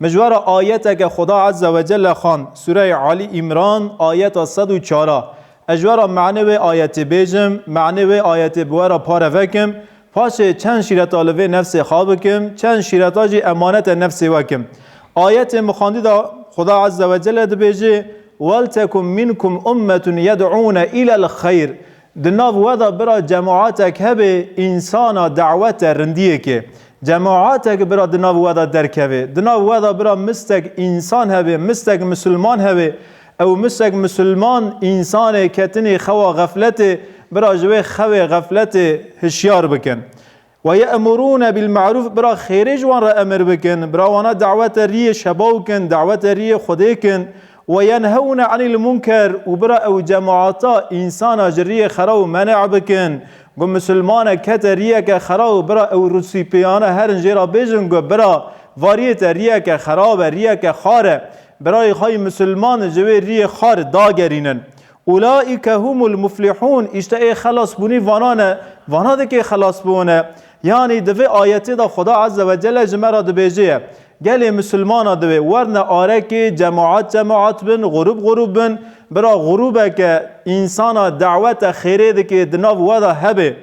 Mijwara ayeteke Xuda Ezze ve Celle xwend, Sûreyê Alî Îmran, ayeta sed û çar a. Ez ji we re manê wê ayetê bêjim, manê wê ayetê bi we re pare vekim, paşê çend şîreta li vê nefsê xwe bikim, çend şîreta jî emanete nefsê we kim. Ayetên bi xwendî de Xuda Ezze ve Celle dibêje, Weltekum minkum ummetun yed'ûne ilel xeyr, Di nav we de bira cemaetek hebe însana dawet e rindiyekê. Cemaetek bira di nav we de derkeve. Di nav we de bira mistek însan hebe, mistek misilman hebe. Ew mistek misilman însanê ketinê xewa xefletê, bira ji wê xewê xefletê hişyar bikin. Wa ye'murûne bil me'rûf bira xêrê ji wan re emir bikin, bira wana dawete riyê şebaw kin, dawete riyê Xwedê kin. Wa yenhewne anil munker û bira ew cemaata, însana ji riyê xeraw menê bikin. Got misilmanek kete riyeke xeraw bira ew rûsîpiyane herin jê re bêjin got bira va riyê te riyeke xerab e, riyeke xar e. Birayê xwe yê misilman ji wê riyê xar dagerînin. Ulaîke humul muflihûn, îşte ê xelasbûnî vanan e, vana dikê xelasbûn e. Yanî di vê ayetê de Xweda Ezze ve Celle ji me re dibêje ye, gelê misilmanan divê werne arekê, cemaat cemaat bin, grûb grûb bin, bira grûbeke însana dawete xêrê dikê di nav we de hebê.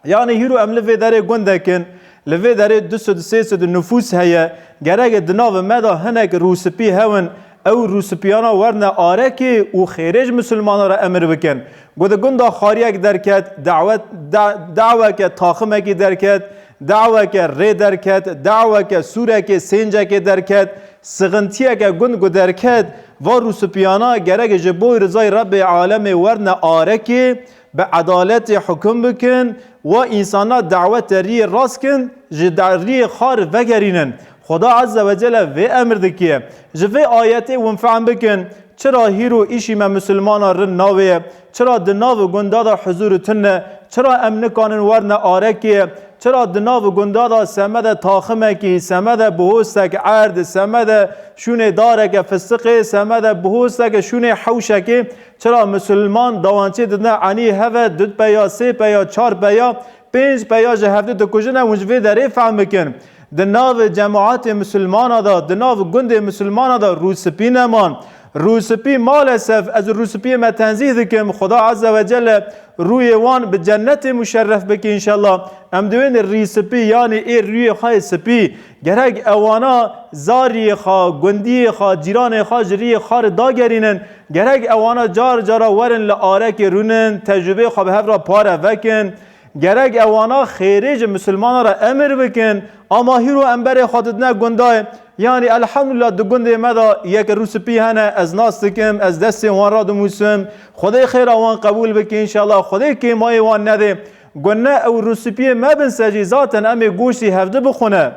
Yanî hîro em li vê derê gundek in, li vê derê du sed sê sed nifûs heye, gerek di navê me de hinek rûspî hewin, ew rûspîyana werine arekê û xêrê ji misilmanan re emir bikin. Ku di gunda xariyek derket, dawet, da, daweke taximekî derket, daweke rê derket, daweke sûrekê, sêncekê derket, sixintiyeke gund ku derket, va rûspîyana gerek ji bo rizayê Rebbê alemê werine arekê, Bi edaletê hukum bikin, wa însanan dawete riyê rast kin ji riyê xar vegerînin. Xuda Ezze ve Celle vê emir dike. Ji vê ayetê hûn fehm bikin çira hîr û îşî me misilmanan rind navê, çira di nav gunda de huzûr û tune, çira em nikanin werine arekê, çira di nav gunda de semede taximekî, semede bihostek erd, semede şûnê dareke fistiqê, semede bihosteke şûnê hewşekê, Çira Musulman dawancê didine enî heve dud peya, sê peya, çar peya, pênc peya ji hevdu dikujine hûn ji vê derê fehm bikin. Di nav cemaetê Musulmana de, di nav gundê Musulmana de rûspî neman. Rûspî malesef ez rûspiyê me tenzîh dikim Xuda Eze ve Celle rûyê wan bi cennetê muşerref bike înşella. Em diwên rîspî yanî ê rûyê xwe yê spî gerek ewana zariyê xwe, gundiyê xwe, cîranê xwe ji rîyê xwe re dagerînin. Gerek ewana car cara werin li arekê rûnin, tecrûbeyê xwe bi hev re pare vekin. Gerek ewana xêrê ji misilmanan re emir bikin. Ama hîro em berê xwe didine gundayê. Yanî elhemdulillah di gundê me de yek rûspî hene, ez nas dikim, ez destên wan re dinûsim. Xwedê xêra wan qebûl bike înşellah, xwedê kêmayê wan nedê. Gunne ew rûspîyê mebin ser jî zaten em ê goştî hevdi bixwine.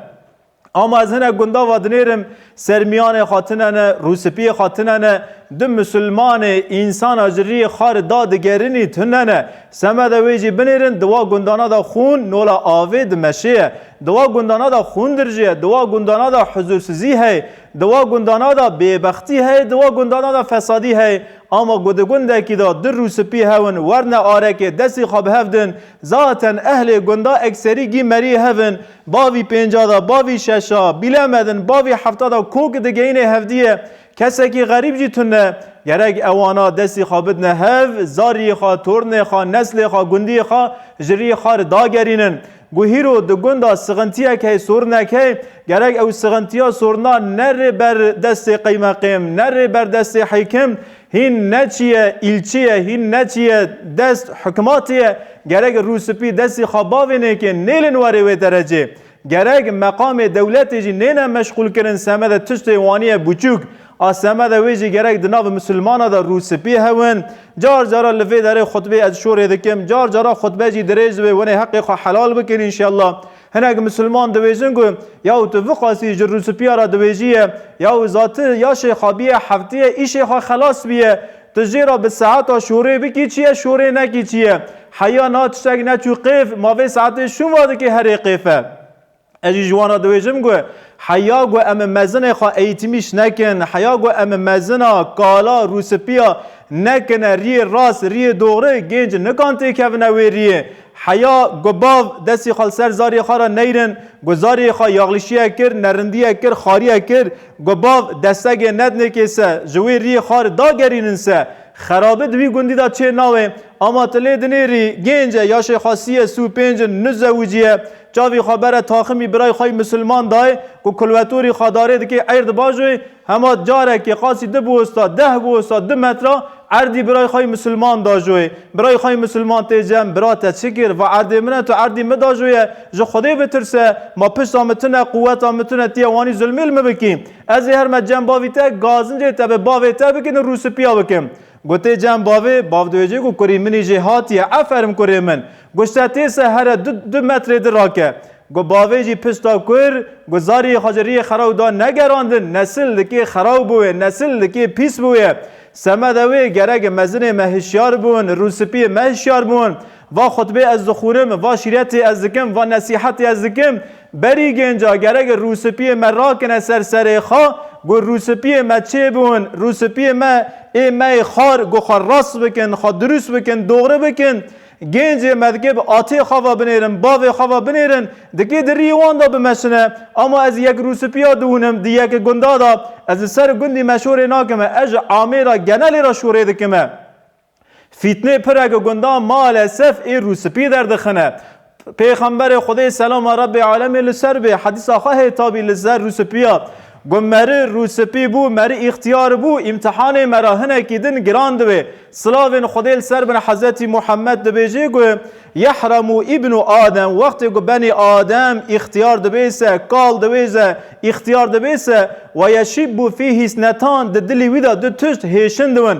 Ama ez hinek gunda va dinêrim sermiyanê xwe tinene, rûspiyê xwe tinene, di musulmanê, însana ji riyê xari da digerinî tunene. Seme de wê jî binêrin di wa gundana de xûn nola avê dimeşêye. Di wa gundana de xûn dirjêye, di wa gundana de huzûrsizî heye, di wa gundana de bêbextî heye, di wa gundana de fesadî heye. Ama ku di gundekî de du rûspî hewin werne arekê destî xwe bi hev din, zaten ehlê gunda ekserî gîmeriyê hev in, Bavî pênca de, bavî şeşa, bîlemedin bavî hefta de kok digeyîne hevdîye. Kesekî xerîb jî tune. Gerek ewana destî xwe bidine hev, zarîyê xwe, tornê xwe, neslê xwe, gundîyê xwe ji rîyê xwe re dagerînin. Ku hîro di gunda sixintîyek hey, sorinek hey, gerek ew sixintîya sorina ne rê ber destê qeymeqêm, ne rê ber destê hîkim, Hîn neçiye îlçiye hîn neçiye dest hikmatiye gerek rû spî destî xwe bavê nêkê nêlin werê wê derecê. Gerek meqamê dewletê jî nêne meşxûl kirin semede tiştê waniye buçûk a semede wê jî gerek di nav misilmana de rû spî hewin. Car cara li vê derê xutbê ez şorê dikim car cara xutbe jî dirêj dibe wenê heqê xwe helal bikin înşella. Hinek misilman diwêjin ku yaw tu viqasî ji rûspîya re diwêjîye, yaw za ti ya şêxabîye heftîye îşê xwe xelas bîye, tu jê re bi saeta şorê bikî çi ye şorê nekî çi ye. Heya na tiştek neçû qêf ma vê saetê şûnva dikê herê qêf e. Ez jî ji wan re diwêjim ku heya ku em mezinê xwe eîtîmîş nekin, heya ku em mezina, kala, rûspîya nekine rîyê rast, rîyê doxri, gênc nikan têkevine wê rîyê. Heya ku bav destê xwe li ser zarê xwe re neyrin, ku zarê xwe yaxlîşiyek kir, nerindiyek kir, xariyek kir, ku bav destegê nedinê kê se, ji wê riyê xar dagerînin se, xerabi di wî gundî de çê nawe, ama tu lê dinêrî, gênc e, yaşê xwe sî ye, sî û pênc in, nuzewicî ye, çavê xwe bere taximî birayê xwe yî misilman dayê, ku kulwetorî xwe darê dikê, eyr di bajoyê, Hema carekê qasî du bosta, deh bosta, du metra erdî birayê xwe yê misilman dajoyê. Birayê xwe yê misilman tê cem, Bira te çi kir? Va erdê min e, tu erdî min dajoye. Ji Xwedê bitirse. Ma pişta min tune, quweta min tune, tu yê wanî zilmê li min bikî. Ez ê herme cem bavî te, gazincê te bi bavê te bikin û rûspîya bikin. Gotê cem bavê, bav diwêjê ku kurî min î jê hatiye, eferim kurê min. Got şte tê se here du du metrê di rake. Got bavê jî pişta kur, got zariyê xwe ji riyê xeraw da negerandin, nesil li kê xeraw bûye, nesil li kê pîs bûye. Semede wê, gerek e mezinê me hişyar bûn, rûspiyê me hişyar bûn. Va xutbê ez dixwûrim, va şîretê ez dikim, va nesîhetê ez dikim, berî gênca gerek e rûspiyê me rakine ser serê xwe, got rûspiyê me çê bûn, rûspiyê me ê me ê xwar, got xwe rast bikin, xwe dirûst bikin, dogri bikin. Gêncê me dike bi atê xwe ve binêrin, bavê xwe ve binêrin, dike di riyê wan de bimeşine. Ama ez yek rûspiya dihûnim, di yek gunda de, ez li ser gundî meşorê nakime, ez ji amêra genelê re şorê dikime. Fîtnê pireke gundan malesef ê rûspî derdixine. Pêxemberê Xwedê selama Rebbê alemê li ser bê hedîsa xwe hê tabî li ser rûspiya got meri rûspî bû meri îxtiyar bû îmtihanê me re hinekî din giran dibe. Silavên Xwedê li ser bin Hezretî Muhemmed dibêje ku, Yehremû îbnû Adem wextê ku benê Adem îxtiyar dibe se kal dibe se îxtiyar dibe se, weyeşîbbû fîhî snetan di dilî wî de du tişt hêşin dibin.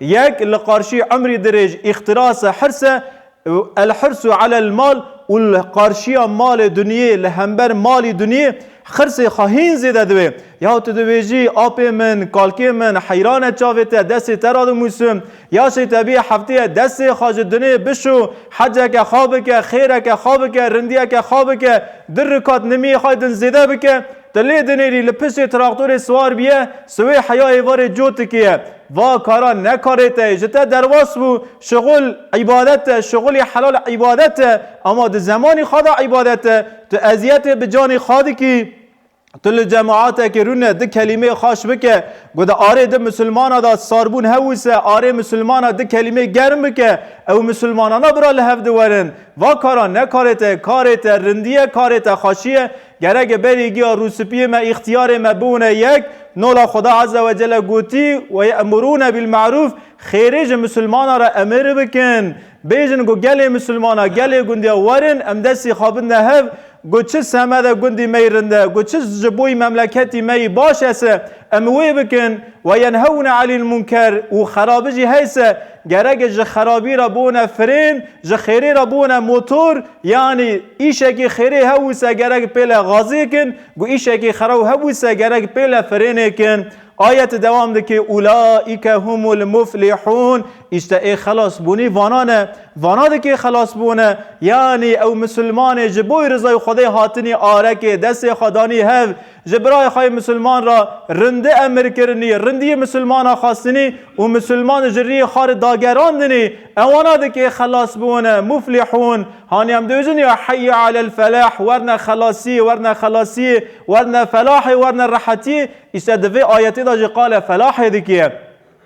Yek li qarşî emrê dirêj, îxtirase hirs e, El-hirsu alel mal û li qarşiya malê dunyê, li hember malî dunyê hirsê xwe hîn zêde dibe. Ya tu dibêjî, Apê min, kalkê min heyran e çavê te destê te re dimûsim. Ya şêtebî hefteyê destê xwe ji dunê bişo, heceke xwe bike, xêreke xwe bike, rindiyeke xwe bike, du rikat nimîyê xwe din zêde bike. Ti lê dinêrî li piştê traktorê siwar biye, siwê heyayê verê cotikê ye. Va kara ne karê te ye, ji te derwas bû, şixul îbadet e, şixulê helal îbadet e, ama di zemanî xwe de îbadet e, tu eziyetê bi canê xwe dikî, tu li cemaetekê rûne di kelîmeyê xweş bike, got arê di misilmana de sarbûn hewise, arê misilmana di kelîmeyê germ bike, ew misilmanana bira li hev di werin. Va kara ne karê te ye, karê te rindî ye, karê te xweşî ye, Gerek e berî giya rûspiyê me îxtiyarê me bûne yek, nola Xweda Eze we Cele gotî, Ve ye'murûne bil me'rûf, xêrê ji misilmanan re emir bikin. Bêjin ku gelê misilmanan, gelê gundiyan werin em destê xwe bidne hev ku çi semed e gundî me yî rind e, ku çi ji bo yî memleketî me yî baş es e, em wê bikin. Ve yenhewne anil munker û xerabî jî heys e. Gerek ji xerabî re bûne frên, ji xêrê re bûne motor, yanî îşekî xêrê hebûse gerek pêle gazêkin, ku îşekî xerab hebûse gerek pêle frênêkin. Ayet dewam dike, Ulaîke humul muflîhûn, îşte ê xelasbûnî vanan e. Vana dike xelasbûn e, yanî ew misilmanê ji bo rizay Xwedê hatinî arekê destê xwe danî hev, Ji birayê xwe yê misilman re rindî emir kirinî, rindî yê misilmana xwestinî û misilman ji riyê xwe re dagerandinî, ewana dikê xelas biwine, muflihûn. Hanî em dibêjin ya heyyî alel felah, werne xelasiyê, werne xelasiyê, werne felahê, werne rehetiyê, îşte di vê ayetê de jî qale felahê dike.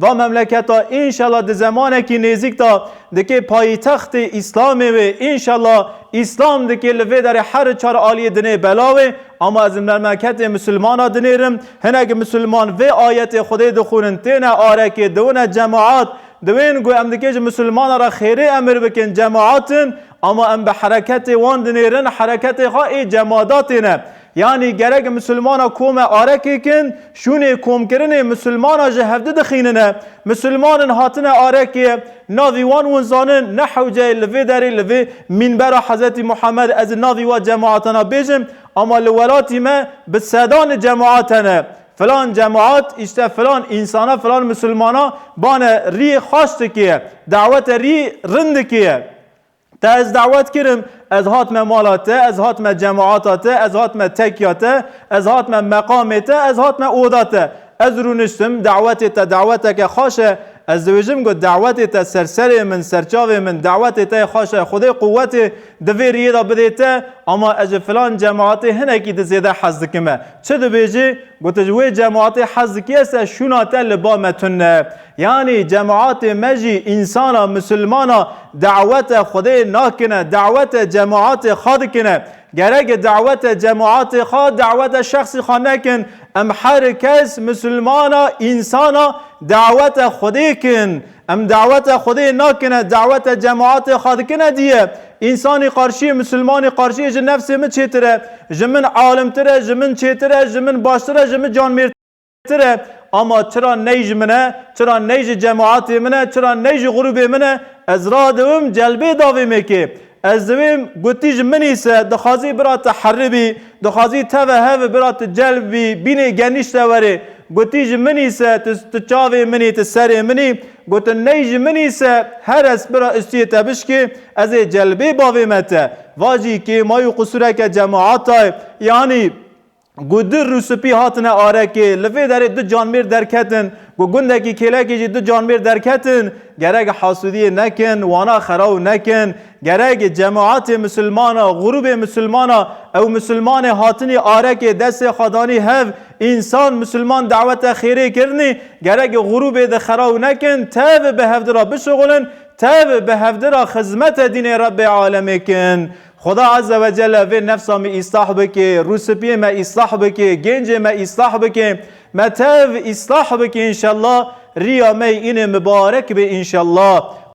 Va memleketa înşela di zemanekî nêzîk de dikê payîtextê Îslamê wê, înşela Îslam dikê li vê derê her çar aliyê dinê bela wê, ama ez memleketê misilmana dinêrim, hinek misilman vê ayetê Xwedê dixwînin têne arekê, diwine cemaat, diwên ku em dikê ji misilmanan re xêrê emir bikin cemaat in, ama em bi hereketê wan dinêrin, hereketê xwe ê cemaadatê ne. Yanî gerek misilmana kome arekek in, şûnê komkirinê misilmana ji hevdi dixînine. Misilman in hatine arekê, navî wan win zanin, ne hewceyê li vê derê li vê mînbera Hezretî Muhammed ez navî wa cemaata nabêjim ama li welatî me bi sedanê cemaat hene. Filan cemaat îşte filan însana filan misilmana bane rîyê xaş dikê, dawete rî rin dikê. Te ez dawet kirim, ez hatime mala te, ez hatime cemaata te, ez hatime tekya te, ez hatime meqamê te, ez hatime oda te. Ez rûniştim, dawetê te daweteke xweş e. Ez dibêjim ku dawetê te ser serê min, ser çavê min, dawetê te xweş e, Xwedê quwetê di vê riyê de bidê te, ama ez ji filan cemaatê hinekî di zêde hez dikim e. Çi dibêjî? Gotiş, wê cemaatê hez dikî ez te, şûna te li ba me tune. Yanî cemaatê me jî însana misilmana dawete Xwedê nakine, dawete cemaatê xwe dikine. Gerek dawete cemaatê xwe, dawete şexsî xwe nekin. Em her kes misilmana însana dawete Xwedê kin. Em dawete Xwedê nakine, dawete cemaatê xwe dikine diye. Însanî qarşiyê misilmanî qarşiyê ji nefsê min çêtir e. Ji min alimtir e, ji min çêtir e, ji min baştir e, ji min canmêrtir e. tire ama çira ney ji min e, çira ney ji cemaatê min e, çira ney ji grûbê min e, ez radewim celbê da vê mêkê. Ez diwêm gotî ji min îse dixwazî bira te herri bî, dixwazî teve hev bira te celb bî, bînê genîşte were. Gotî ji min îse tu tu çavê min î, tu serê min î. Gotin ney ji min îse her ez bira ustiyê te bişkê, ez ê celbê bavê me te. Vajî kêma û qusûreke cemaata ye. Yanî Ku dir û sipî hatine arekê, li vê derê du canmêr derketin. Ku gundekî kêlekê jî du canmêr derketin. Gerek hasûdiyê nekin, wana xeraw nekin. Gerek cemaetê misilmana, grûbê misilmana, ew misilmanê hatinî arekê destê xwe danî hev, însan, misilman dawete xêrê kirinî, gerek grûbê di xeraw nekin, tev bi hevdira bişuxulin, tev bi hevdira xizmete dînê Rebbê Alemê kin. Xuda Azze ve Celle vê nefsa me îslah bike, rûspiyê me îslah bike, gêncê me îslah bike, me tev îslah bike înşellah, riya me yê înê mibarek be înşellah.